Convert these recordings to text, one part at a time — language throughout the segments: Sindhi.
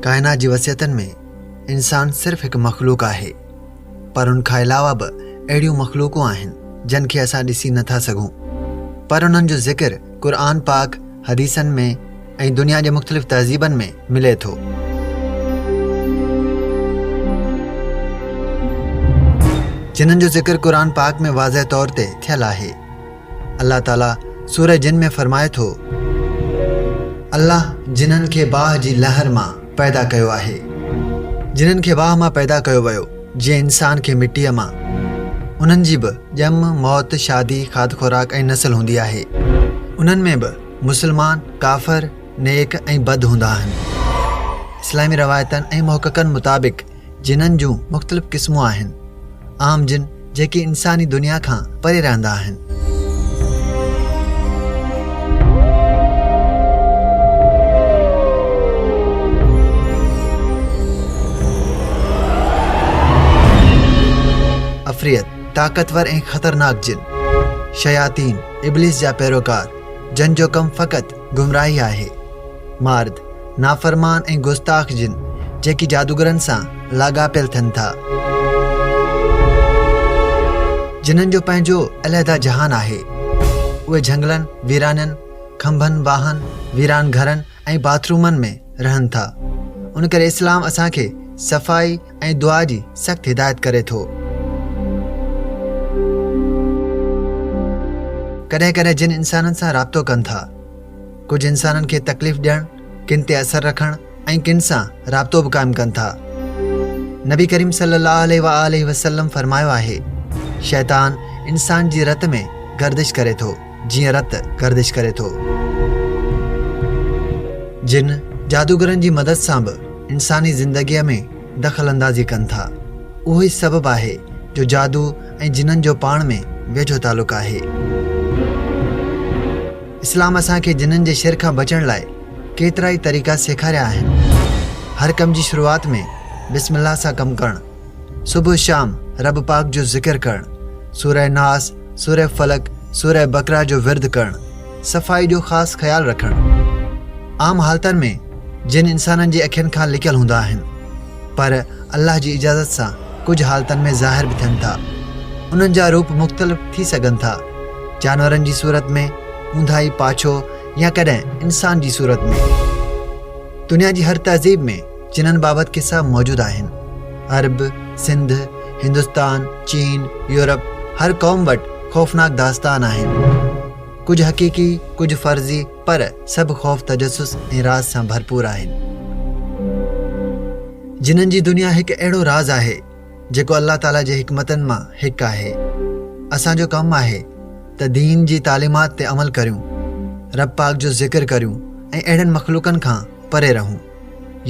ڪائنات جي وصيتن ۾ انسان صرف هڪ مخلوق آهي پر ان کان علاوه به اهڙيون مخلوقون آهن جن کي اسان ڏسي نٿا سگهون پر انهن جو ذڪر قرآن پاڪ حديثن ۾ ۽ دنيا جي مختلف تهذيبن ۾ ملي ٿو جنن جو ذڪر قرآن پاڪ ۾ واضح طور تي ٿيل آهي الله تعاليٰ سورة جن ۾ فرمائي ٿو الله جنن کي باهه جي لهر مان پيدا ڪيو آهي جنن کي واهه مان پيدا ڪيو ويو جيئن انسان کي مٽيء مان انهن جي به ڄم، موت، شادي، کاڌ خوراڪ ۽ نسل هوندي آهي. انهن ۾ به مسلمان، ڪافر، نيڪ ۽ بد هوندا آهن. اسلامي روايتن ۽ محققن مطابق جنن جون مختلف قسمون آهن. عام جن جيڪي انساني دنيا کان پري رهندا آهن. عفريت، طاقتور ۽ خطرناڪ جن. شياطين، ابليس جا پيروڪار، جن جو ڪم فقط گمراهي آهي. مارد، نافرمان ۽ گستاخ جن، جيڪي جادوگرن سان لاڳاپيل ٿين ٿا. جنن جو پنهنجو علحده جهان آهي. اهي جهنگلن، ويرانين، کنڀن، واهن، ويران گهرن ۽ باٿ رومن ۾ رهن ٿا. ان ڪري اسلام اسان کي صفائي ۽ دعا جي سخت هدايت ڪري ٿو. ڪڏهن ڪڏهن جن انسانن سان رابطو ڪن ٿا. ڪجهه انسانن کي تڪليف ڏيڻ ڪن تي اثر رکڻ ۽ ڪن سان رابطو به قائم ڪن ٿا نبي ڪريم صلي الله عليه وآله وسلم فرمايو آهي شيطان انسان جي رت ۾ گردش ڪري ٿو جيئن رت گردش ڪري ٿو جن جادوگرن جي مدد سان به انساني زندگيء ۾ دخل اندازي ڪن ٿا اهو ئي سبب آهي جو جادو ۽ جنن جو پاڻ ۾ ويجهو تعلق آهي اسلام اسان کي جنن جي شر کان بچڻ لاء ڪيترائي طريقا سيکاريا آهن. هر ڪم جي شروعات ۾ بسم الله سان ڪم ڪرڻ، صبح شام رب پاڪ جو ذڪر ڪرڻ، سوره ناس، سوره فلق، سوره بقره جو ورد ڪرڻ، صفائي جو خاص خيال رکڻ. عام حالتن ۾ جن انسانن جي اکين کان لڪيل هوندا آهن پر الله جي اجازت سان ڪجهه حالتن ۾ ظاهر به ٿين ٿا. انهن جا روپ مختلف ٿي سگهن ٿا. جانورن جي صورت ۾ اونداهي پاڇو يا ڪڏهن انسان جي صورت ۾ دنيا جي هر تهذيب ۾ جنن بابت قصا موجود آهن عرب سنڌ هندستان چين يورپ هر قوم وٽ خوفناڪ داستان آهن ڪجهه حقيقي ڪجهه فرضي پر سڀ خوف تجسس ۽ راز سان ڀرپور آهن جنن جي دنيا هڪ اهڙو راز آهي جيڪو الله تعاليٰ جي حڪمتن مان هڪ آهي. اسان جو ڪم آهي ته دين جي تعليمات تي عمل ڪريون، رب پاڪ جو ذڪر ڪريون ۽ اهڙن مخلوقن کان پري رهون.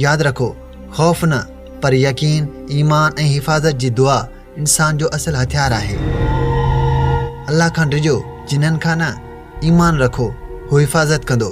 ياد رکو، خوف نه پر يقين، ايمان ۽ حفاظت جي دعا انسان جو اصل هٿيار آهي. الله کان ڊڄو، جنن کان نه، ايمان رکو، هو حفاظت ڪندو.